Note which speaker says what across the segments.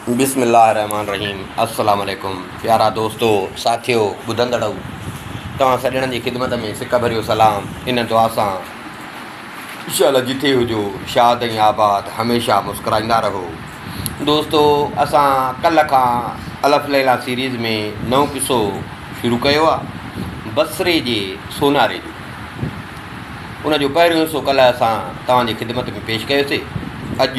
Speaker 1: بسم الله الرحمٰن الرحيم السلام عليڪم پيارا دوستو ساٿيو ٻڌندڙؤ توهان سڄڻن جي خدمت ۾ سڪ ڀريو سلام ان دعا سان انشاءالله جتي هجو شاد ۽ آباد هميشه مسڪرائيندا رهو دوستو اسان ڪل کان الف ليلا سيريز ۾ نو قصو شروع ڪيو آهي بصري جي سوناري جو ان جو پهريون حصو ڪل اسان توهان جي خدمت ۾ پيش ڪيوسي اڄ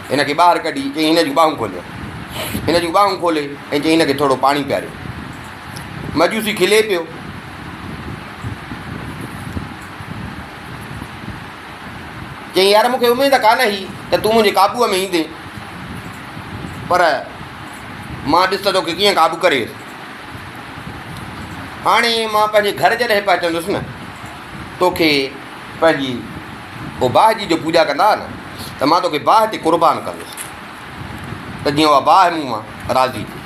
Speaker 1: هن کي ٻاهر ڪڍي چيائين هن جون ٻانهون کوليو. هن جون ٻانهون کولي ۽ چيائين هن کي ٿورو پاڻي پياريو. مجوسي کلي پيو. چيائين يار مون کي اميد ڪانه هئي ته تون منهنجي قابوء ۾ ايندين پر مان ڏس ته توکي ڪيئن قابو ڪري ويس. هاڻي مان پنهنجي گهر جڏهن پهچندس نه توکي پنهنجي او باهه جي جو پوڄا ڪندا ها نه ته مان توکي باهه تي قربان ڪندس ته جيئن اها باهه مون مان راضي ٿئي.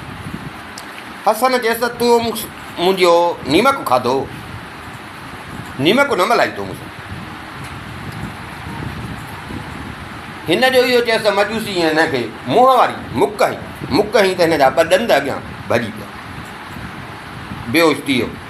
Speaker 1: حسن چيس ته تو منهنجو نيمڪ کاڌو، نيمڪ نه ملهائي تو مون سان. هن جو اهو چيس ته مجوسي ۽ هن کي منهن واري مڪ هنئي، مڪ هنئي ته هن جا ٻه ڏند اڳيان ڀڄي پيا، بيهوش ٿي ويو.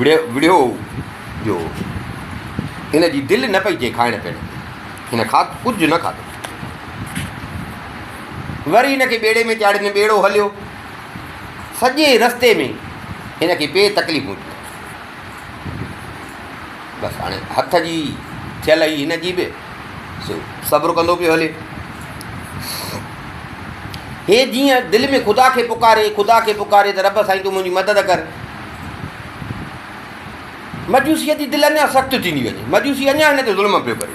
Speaker 1: وڙهيو جو هن جي دل نه پئي چئي کائڻ پيئڻ جي. هن کاڌ ڪجهه نه کاڌو. وري هن کي ٻيڙي ۾ چاڙهين ته ٻيڙو هليو. سڄي رستي ۾ هن کي پي تڪليفون ٿيون. بس هاڻي هٿ جي ٿيل هئي هن جي به سو صبر ڪندو پيو هلي. هي جيئن دل ۾ خدا کي پڪاري خدا کي پڪاري ته رب سائين تون منهنجي مدد ڪر. مجوسيء جي دل اڃا سخت ٿيندي وڃي. مجوسي اڃا هن تي ظلم پيو ڪري.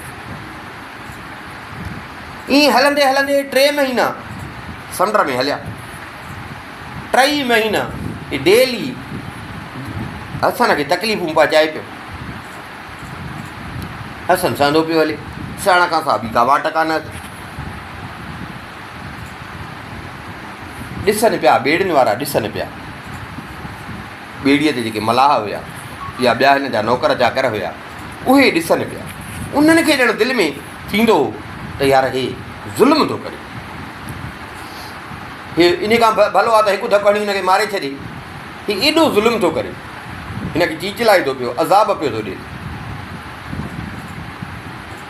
Speaker 1: ائين هلندي هلندي ٽي مهينا سمنڊ ۾ هليا. ٽئي مهينا ڊيلي حسن کي تڪليفون پهچائي پيو حسن سهندو پيو هلي سهڻ کان سا بي ڪا واٽ ڪانه ڏسن پيا، ٻيڙين وارا ڏسن پيا. ٻيڙيء تي جيڪي ملاح هيا يا ٻيا هن جا نوڪر چاڪر هيا، اهي ڏسن پيا. انهن کي ڄڻ دل ۾ ٿيندو هو ته يار هي ظلم ٿو ڪري. هي ان کان ڀلو آهي ته هڪ ڌڪ هڻي هن کي ماري ڇڏي. هي ايڏو ظلم ٿو ڪري. هن کي چيچلائي ٿو پيو، عذاب پيو ٿو ڏي.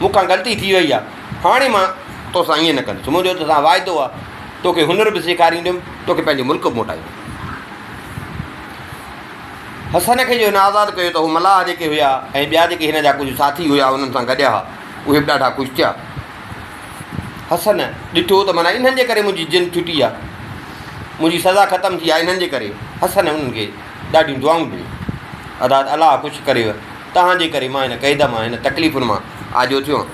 Speaker 1: مون کان غلطي ٿي وئي آهي، هاڻي مان تو سان ائين نه ڪندس. منهنجو تو سان واعدو آهي، تو کي هنر به سيکارينديم، تو کي پنهنجو ملڪ به موٽائينديم. حسن کي جو هن آزاد ڪيو ته هو ملاح جيڪي هيا ۽ ٻيا جيڪي هن جا ڪجهه ساٿي هيا انهن سان گڏيا ها، اهي به ڏاڍا خوش ٿيا. حسن ڏٺو ته معنيٰ انهن جي ڪري منهنجي جند ڇٽي آهي، منهنجي سزا ختم ٿي آهي، انهن جي ڪري. حسن انهن کي ڏاڍيون دعائون ڏنيون. اداد الله خوش ڪريو. توهان جي ڪري مان هن قيد مان، هن تڪليفن مان آجو ٿيو آهيان.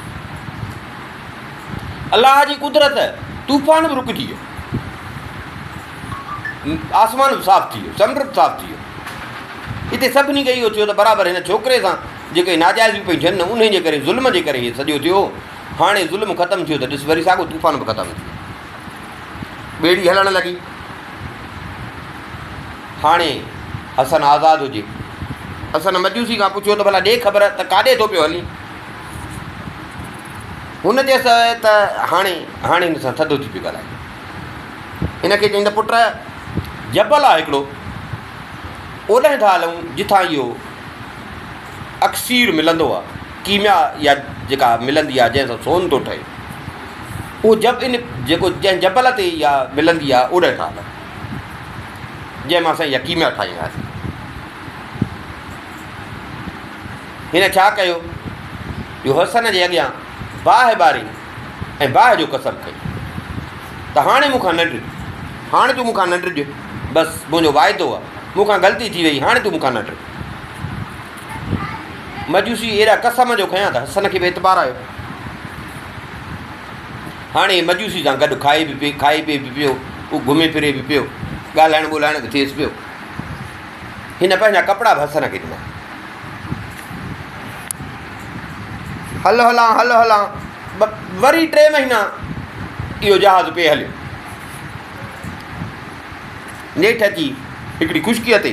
Speaker 1: الله جي قدرت، طوفان به رڪجي ويو. آسمان به صاف ٿي ويو، سمنڊ به صاف ٿي ويو. هتي سڀني کي اهو ٿيو ته برابر هن ڇوڪري سان جيڪي ناجائزيون پيون ٿين نه انهي جي ڪري ظلم جي ڪري هي سڄو ٿيو. هاڻي ظلم ختم ٿيو ته ڏس وري ساڳو طوفان به ختم ٿي ويو. ٻيڙي هلڻ لڳي. هاڻي حسن آزاد هجي. حسن مجوسي کان پڇيو ته ڀلا ڏي خبر ته ڪاڏي ٿو پيو هلين. هن چيس ته هاڻي هاڻي هن سان ٿڌو ٿي پيو ڳالهائي. هن کي چيائين ته پٽ جبل آهي هڪڙو اوڏانهن ٿا هلون جتان اهو اڪسير ملندو آهي ڪيميا يا جيڪا ملندي آهي جنهن سان سون ٿو ٺهي. اهو جب ان جيڪو جنهن جبل تي اها ملندي آهي اوڏهه کان الڳ جنهن مان اسان اها ڪيميا ٺاهيندا هئاسين. هن ڇا ڪيو جو حسن جي اڳيان باهه ٻاري ۽ باهه جو قسم کئي ته هاڻي مون کان نه ڊڄ هاڻي تون مون کان نه ڊڄ بس منهنجو واعدو آهي مون کان غلطي ٿي وئي هاڻي تون مون کان نه ڊڄ. مجوسي ايڏا قسم جو کنيا ته حسن کي به اعتبار آيو. هاڻي هي مجوسي سان گڏ کائي به پي کائي پي به پيو، هو گهمي ڦري به پيو، ڳالهائڻ ٻولهائڻ به ٿيس پيو. هن پنهنجا ڪپڙا به حسن کي ڏنا. هل هلان هل هلان وري ٽي مهينا اهو جهاز پئي هليو. نيٺ اچي هڪڙي خشڪيء تي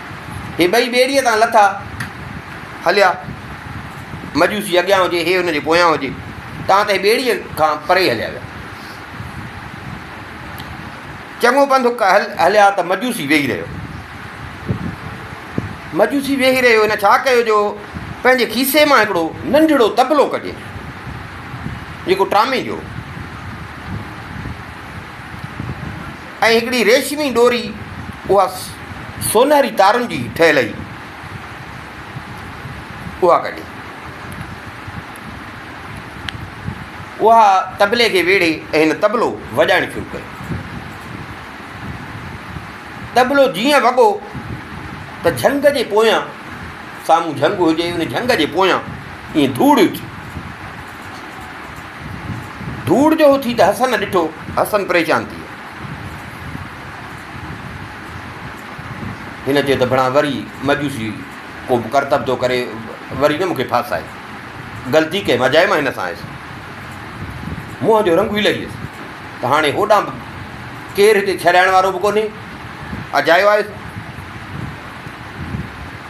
Speaker 1: هي ٻئي ٻيڙيء تان لٿا هليا. مجوسي اڳيان هجي، هي هن جي پويان هجي، تان ته هي ٻيڙيء کان پري هليا ويا. چڱو پنڌ هليا ته مجوسي ويهي رهيو. مجوسي ويهي رهيو، هن ڇا ڪيو جو پنهنجي کيسي مان هڪڙو ننڍڙو طبلو ڪڍي، جيڪو ٽامي جو ۽ هڪڙي ريشمي ڏوري اها سونهري تارن جي ٺهيل هئي اها ڪڍي اها طبلي کي ويڙهي ۽ هن طبلو وڄائڻ شروع ڪيو طبلو جيئن وڳو ته جهنگ جي پويان سامهون جهنگ هجي ان جهنگ جي پويان ائين ڌوڙ اٿي ڌوڙ جو اٿي ته حسن ڏٺو، حسن پريشان ٿي ويو. هن چيو ته ڀڻا وري مجوسي ڪو به ڪرتب ٿو ڪري، وري نه مون کي ڦاسائي. غلطي ڪئي مان جائي مان هن سان آيس. منهن جو رنگ به لهي ويس ته هاڻي هوڏانهن به ڪير هتي ڇڏائڻ وارو به ڪونهي، اجايو آيس.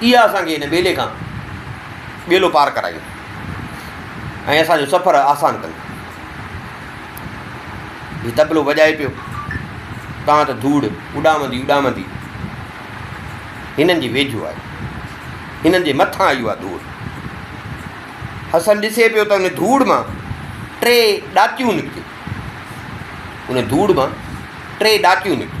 Speaker 1: اها اسان کي هن ٻيلي کان ٻيلو پار ڪرائي ۽ اسان جو سفر آسان ڪن. هي تبلو وڄائي پيو تان ته ڌوڙ اڏامندي اڏامندي هنن جي ويجهو آئي هنن جي مٿان آئي اها ڌوڙ حسن ڏسي پيو ته ان ڌوڙ مان ٽي ڏاچيون نڪتيون ان ڌوڙ مان ٽي ڏاچيون نڪتيون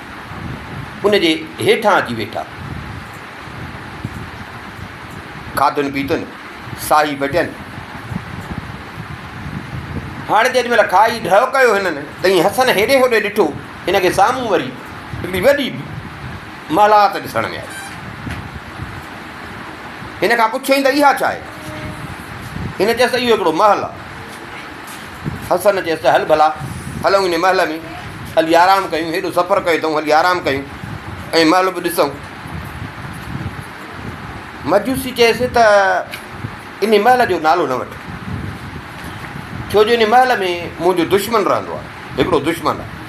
Speaker 1: ان جي هيٺان اچي ويٺا. کاڌن پيتن، ساهي پٽين. هاڻ جيڏي مهل کائي ڍؤ ڪيو هنن ته ائين حسن هيڏي هوڏي ڏٺو، هن کي سامهون وري هڪڙي وڏي محلات ڏسڻ ۾ آئي. هن کان پڇيائين ته اها ڇا آهي؟ هن چيس ته اهو هڪڙو محل آهي. حسن چيس ته هل ڀلا هلون ان محل ۾ هلي آرام ڪيون، هيڏو سفر ڪيو اٿئون هلي آرام ڪيون ۽ محل به ڏسئون. مجوسي چيس ته ان محل جو نالو نه وٺ، ڇو جو ان محل ۾ منهنجو دشمن رهندو آهي، هڪڙو دشمن آهي.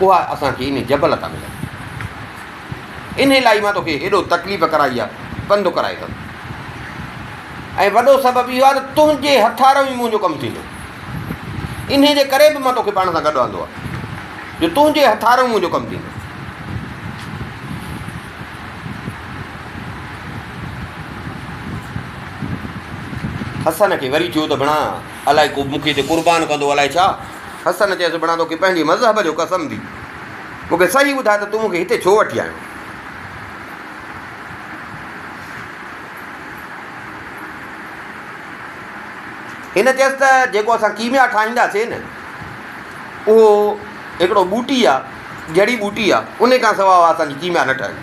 Speaker 1: اها اسان کي ان جبل تان ملندي. انهي لاء ئي مان توکي هيڏو تڪليف ڪرائي آ، پنڌ ڪرائي اٿم. ۽ وڏو سبب اهو آ ته تنهنجي هٿارئون ئي منهنجو ڪم ٿيندو. انهي جي ڪري به مان توکي پاڻ سان گڏ آندو آ، جو تنهنجي هٿارئون منهنجو ڪم ٿيندو. حسن کي وري ٿيو ته ڀڻا الائي ڪو مون کي هتي قربان ڪندو الائي ڇا؟ حسن چيس، بڻا توکي پنهنجي مذهب جو قسم ڀي، مون کي صحيح ٻڌاء ته تون مون کي هتي ڇو وٺي آيو؟ هن چيس ته جيڪو اسان ڪيميا ٺاهينداسين نه، اهو هڪڙو ٻوٽي آ، جڙي ٻوٽي آ، انهي کان سواء اسان جي ڪيميا نه ٺهندي.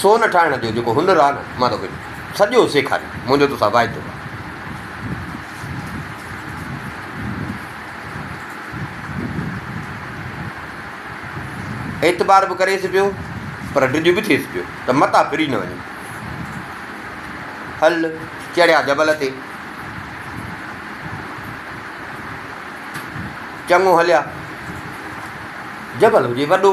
Speaker 1: سون ٺاهڻ جو جيڪو هنر آهي نه مان توکي سڄو سيکاريندس منهنجو توسان وعدو آهي. اعتبار به ڪريس پيو پر ڊڄ به ٿيس پيو ته متان ڦري نه وڃي. هل چڙهيا جبل تي چڱو هليا جبل هجي وڏو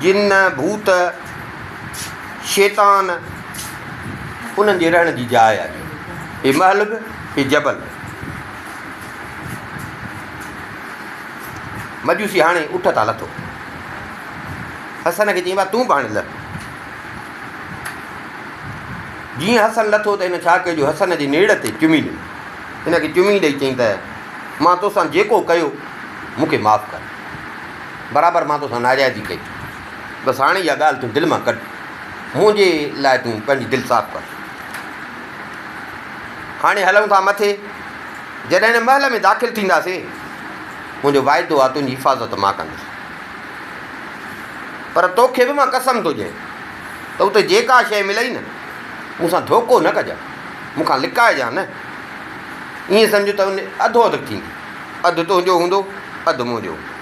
Speaker 1: جن، ڀوت، شيطان انهن جي رهڻ جي جاء آهي. هي محل به، هي جبل به. مجوسي هاڻي اٺ تان لٿو. حسن کي چيائين ڀاء تون به هاڻي لهه. جيئن حسن لٿو ته هن ڇا ڪيو جو حسن جي نيڙ تي چمي ڏنو. هن کي چمي ڏئي چيائين ته مان توسان جيڪو ڪيو مون کي معاف ڪر. برابر مان توسان ناجائزي ڪئي ٿي. بس هاڻي اها ڳالهه تون دل مان ڪڍ. منهنجي لاء تون پنهنجي دل صاف ڪر. هاڻي هلون ٿا مٿي. جڏهن هن محل ۾ داخل ٿينداسين، منهنجو واعدو آهي تنهنجي حفاظت مان ڪندس. پر توکي به مان قسم ٿو ڏيان ته اتي جيڪا شيء ملئي نه، مون سان ڌوڪو نه ڪجان، مون کان لڪائجان نه. ائين سمجهه ته ان جي اڌو اڌ ٿيندي. اڌ تنهنجو هوندو، اڌ منهنجو.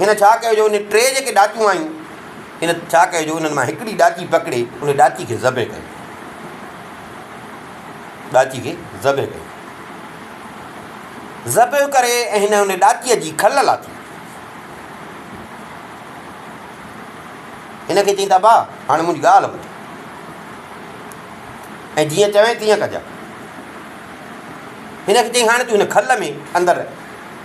Speaker 1: هن ڇا ڪيو جو انهن ٽي جيڪي ڏاچون آيون، هن ڇا ڪيو جو انهن مان هڪڙي ڏاچي پڪڙي ان ڏاچي کي ذبح ڪيو. ڏاچي کي ذبح ڪيو. ذبح ڪري ۽ هن ان ڏاچيء جي کل لاٿي. هن کي چيائين ته ابا هاڻي منهنجي ڳالهه ٻڌ ۽ جيئن چوين تيئن ڪجان. هن کي چيائين هاڻي تون هن کل ۾ اندر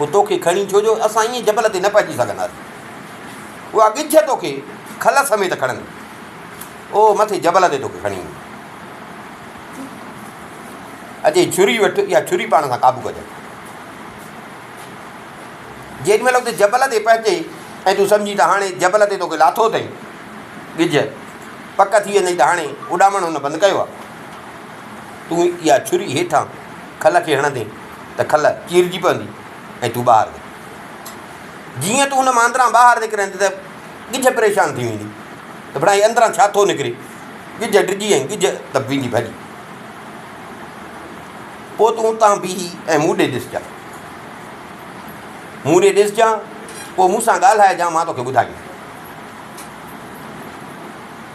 Speaker 1: هو توکي کڻي ڇو جو اسان ائين جبل تي نه پهچي سگهنداسين. اها ڳجهه توکي کل سميت کڻندي. او مٿي جبل تي توکي کڻي ايندي. اچي ڇري وٺ يا ڇري پاڻ سان قابو ڪجانء. جيڏي مهل اتي جبل تي پهچي ۽ تون سمجهين ته هاڻي جبل تي توکي لاٿو اٿئي ڳجهه، پڪ ٿي ويندئي ته هاڻي اڏامڻ هن بند ڪيو آهي. تون اها ڇري هيٺان کل کي هڻندين ته کل چيرجي پوندي ۽ تون ٻاهر نڪرين. جيئن تون ان مان اندران ٻاهر نڪرين ته ڳجهه پريشان ٿي ويندي ته ڀلا هي اندران ڇا ٿو نڪري؟ ڳجهه ڊڄي ۽ ڳجهه ته ويندي ڀڄي. پوء تون اتان بيهي ۽ مون ڏي ڏسجانء. مون ڏي ڏسجانء، پوء مون سان ڳالهائجانء، مان توکي ٻڌائيندس.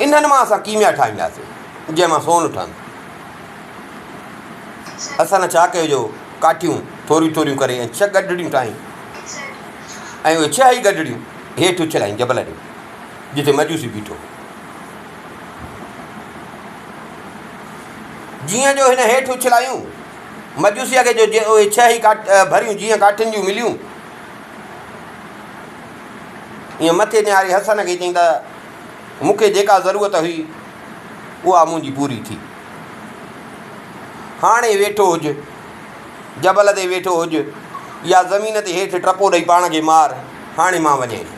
Speaker 1: انهن مان اسان ڪيميا ٺاهينداسين، جنهن مان سون ٺهندو. اسان نه ڇا ڪيو جو ڪاٺيون ٿوريون ٿوريون ڪري ۽ ڇهه گڏڙيون ٺاهين ۽ اهي ڇهه ئي گڏڙيون هيٺ اڇلائين جبل ڏي، جتي مجوسي بيٺو هو. جيئن جو هن هيٺ اڇلايون، مجوسيء کي جو اهي ڇهه ئي ڀريون جيئن ڪاٺين جون مليون، ائين مٿي نهاري حسن کي چيائين ته مون کي جيڪا ضرورت هئي اها منهنجي پوري ٿي. هاڻي ويٺو هج، جبل تي ويٺو هج يا زمين تي هيٺ ٽپو ڏئي پاڻ کي مار، هاڻي مان وڃين ٿو.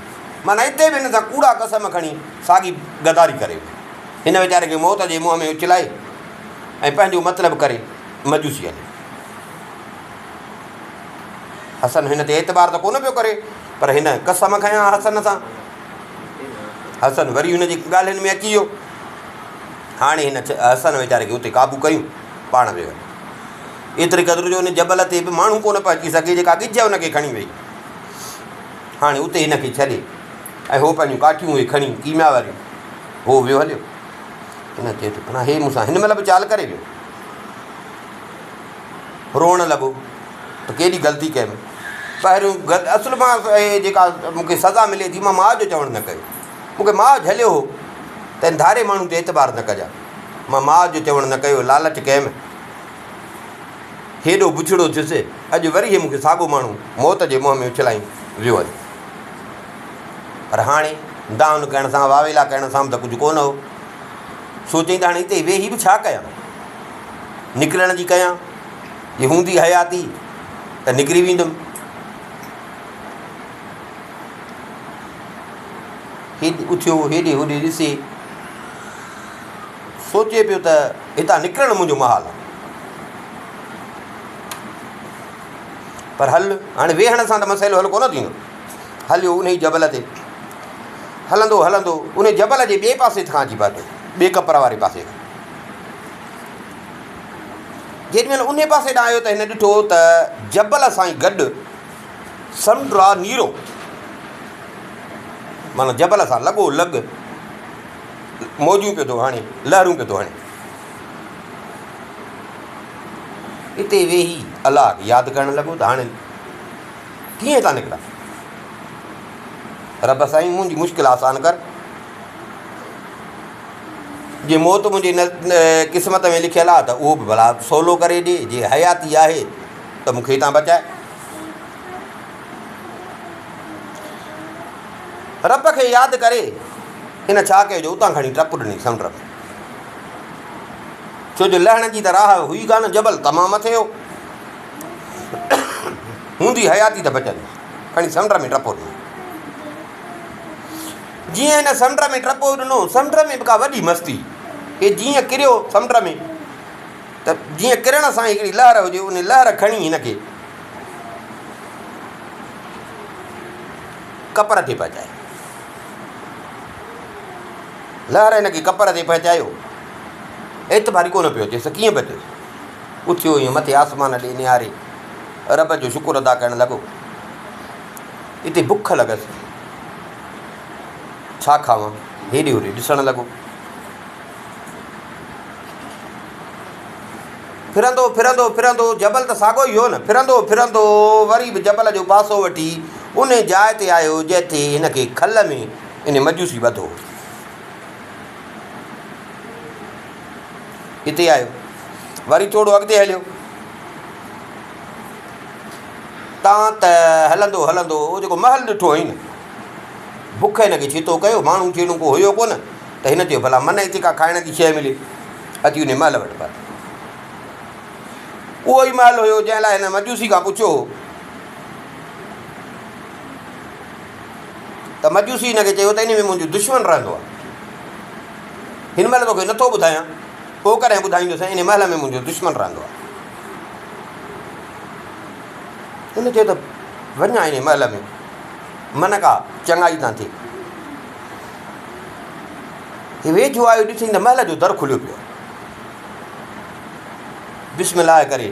Speaker 1: معنيٰ اتي به هن سان ڪوڙا قسم کڻي ساڳي غداري ڪري ويٺو. هن ويچاري کي موت جي منهن ۾ اڇلائي ۽ پنهنجو مطلب ڪري مجوسي هليو. حسن هن تي اعتبار ته ڪونه پيو ڪري، پر هن قسم کنيا حسن سان. حسن وري هن جي ڳالهين ۾ اچي ويو. هاڻي هن حسن ويچاري کي اتي قابو ڪيو، پاڻ ويو. ايتري قدر جو هن جبل تي به ماڻهو ڪونه پهچي سگهي، جيڪا ڳجهه هن کي کڻي وئي. هاڻي اتي هن کي ڇڏي ۽ هو پنهنجون ڪاٺيون اهي کڻي ڪيميا واريون هو ويو هليو. هن چيو ته هي مون سان هن مهل به چال ڪري ويو. روئڻ لڳو ته ڪيڏي غلطي ڪيم. پهريون غلط اصل مان اهي جيڪا مون کي سزا ملي ٿي مان ماء جو چوڻ نه ڪيو. مون کي ماء جهليو هو ته ان ڌاري ماڻهو تي اعتبار نه ڪجان. مان ماء جو چوڻ نه ڪيو لالچ ڪيم. هيڏو بڇڙو ٿيس اڄ وري هي مون کي ساڳو ماڻهو موت جي منهن ۾ اڇلائي ويو آهي. پر هاڻي دانهن ڪرڻ سان واويلا ڪرڻ سان به ته ڪجهه ڪونه هو. سوچيم ته هاڻي هتي ويهي به ڇا ڪيان. نڪرڻ جي ڪيان، جي هوندي حياتي ته نڪري ويندم. هيد اٿيو هيڏي هوڏي ڏسي سوچي پيو ته هتان نڪرڻ منهنجو محال آهي. پر هل هاڻي ويهڻ سان ته مسئلو حل ڪونه ٿيندو هليو ان جبل تي هلندو هلندو ان جبل جي ٻئي پاسي کان اچي پاتو ٻئي ڪپر واري پاسي جيڏي مهل انهيء پاسي ڏانهن آيو ته هن ڏٺو ته جبل سائين گڏ سمنڊ را نيرو معنيٰ جبل سان لڳو لڳ موجون پيو ٿو هڻي لهرون پيو ٿو هڻي اتي ويهي الله کي ياد ڪرڻ لڳو ته هاڻي ڪيئن ٿا نڪران رب سائين منهنجي مشڪل آسان ڪر جي موت منهنجي قسمت ۾ لکيل آ ته اهو به ڀلا سولو ڪري ڏي، جي حياتي آهي ته مون کي هتان بچاء. رب کي ياد ڪري هن ڇا ڪيو جو اتان کڻي ٽپ ڏني سمنڊ ۾، ڇو جو لهڻ جي ته راهه هئي ڪانه، جبل تمام مٿي هو، هوندي حياتي ته بچندي، کڻي سمنڊ ۾ ٽپو ڏنو. جيئن هن سمنڊ ۾ ٽپو ڏنو، سمنڊ ۾ به ڪا وڏي مستي ڪئي، جيئن ڪريو سمنڊ ۾ ته جيئن ڪرڻ سان ئي هڪڙي لهر هجي، ان لهر کڻي هن کي ڪپر تي پهچايو. لهر هن کي ڪپر تي پهچايو، اعتبار ئي ڪونه پيو اچيس ته ڪيئن بچيس، اٿيو ائين مٿي آسمان ڏي نهاري رب جو شڪر ادا ڪرڻ لڳو. اتي بک لڳس ڇا کاوان، هيڏي هوڏي ڏسڻ لڳو. ڦرندو ڦرندو ڦرندو جبل ته ساڳو ئي هو نه، ڦرندو ڦرندو وري به جبل جو پاسو وٺي انهي جاء تي آيو جتي هن کي کل ۾ انهي مجوسي ٻڌو هو. اتي آيو وري ٿورو اڳتي هليو. تان ته هلندو هلندو جيڪو محل ڏٺو هئين، بک هن کي ڇيتو ڪيو. ماڻهو جهڙو ڪو هيو ڪونه ته هن چيو، ڀلا منهن هتي ڪا کائڻ جي شيء ملي. اچي انهيء محل وٽ پهتو. اهو ئي محل هيو، جنهن لاء هن مجوسي کان پڇيو هو. ته مجوسي هن کي چيو ته انهيء ۾ منهنجو دشمن رهندو آهي. هن مهل توکي نٿو ٻڌايان، پوء ڪڏهن ٻڌائيندوسين، انهيء محل ۾ منهنجو دشمن رهندو آهي. هن چيو ته وڃ هائين هن محل ۾ من ڪا چڱائي تان ٿئي. هي ويجهو آيو ڏٺئي ته محل جو در کليو پيو آهي. بسم الله ڪري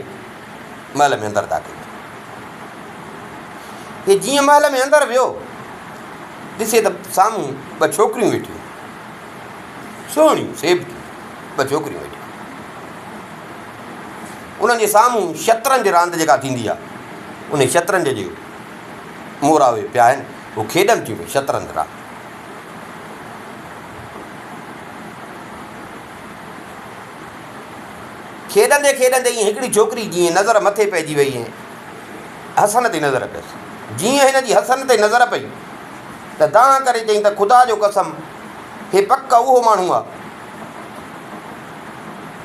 Speaker 1: محل ۾ اندر داخل هي جيئن محل ۾ اندر ويو ڏسي ته سامهون ٻه ڇوڪريون ويٺيون سهڻيون سيب ٻه ڇوڪريون ويٺيون انهن جي سامهون شطرنج راند جيڪا ٿيندي آهي، انهي شطرنج جي مورا اهي پيا آهن، هو کيڏن ٿيون پيا شطرنج راند. کيڏندي کيڏندي ائين هڪڙي ڇوڪري جيئن نظر مٿي پئجي وئي ۽ حسن تي نظر پيس. جيئن هن جي حسن تي نظر پئي ته دانهن ڪري چيائين ته خدا جو قسم هي پڪ اهو ماڻهو آهي.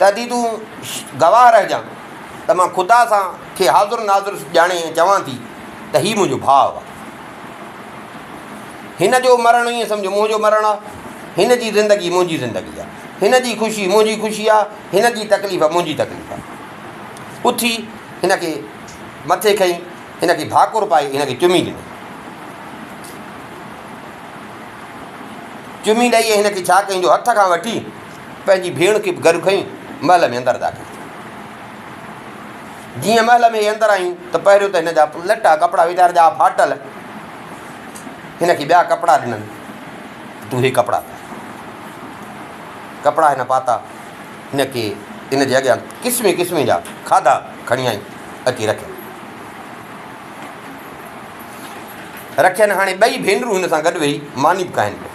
Speaker 1: تدي تون گواهه رهجان ته مان خدا سان کي حاضر ناظر ڄاڻي ۽ چوان ٿي ته هي منهنجو ڀاء آهي. هن جو مرڻ ائين سمجهه منهنجو مرڻ آهي. هن جي زندگي منهنجي زندگي آهي. هن جي خوشي منهنجي خوشي آهي. هن جي تڪليف منهنجي تڪليف آهي. اٿي هن کي مٿي کنئي، هن کي ڀاڪر پائي هن کي چمي ڏنو. چمي ڏئي هن کي ڇا ڪيائين جو هٿ کان وٺي پنهنجي ڀيڻ کي به گڏ کڻي محل ۾ اندر داخل ٿيو. جيئن محل ۾ هي اندر آيون ته پهريون ته هن جا لٽا ڪپڙا ويچار جا ڦاٽل، هن کي ٻيا ڪپڙا ڏنن ته تون هي ڪپڙا پائي. ڪپڙا هن پاتا، هن کي هن جي اڳيان قسمين قسمين جا کاڌا کڻي آئي اچي رکيا. رکين هاڻي ٻئي ڀينرون هن سان گڏ ويهي ماني به کائن پيون.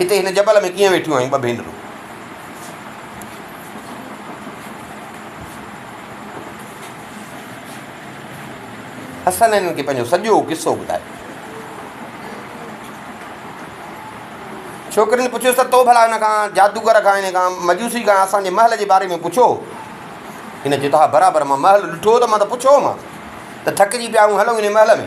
Speaker 1: هتي هن جبل ۾ ڪيئن ويٺيون آهيون ٻه ڀينرون؟ حسن هنن کي پنهنجو سڄو قصو ٻڌايو. ڇوڪرين پڇيس ته تو ڀلا هن کان، جادوگر کان، هن کان، مجوسي کان اسان جي محل جي باري ۾ پڇيو هو؟ هن چيو ته ها برابر، مان محل ڏٺو هو ته مان ته پڇيو هومانس ته ٿڪجي پيا آهيون هلون هن محل ۾.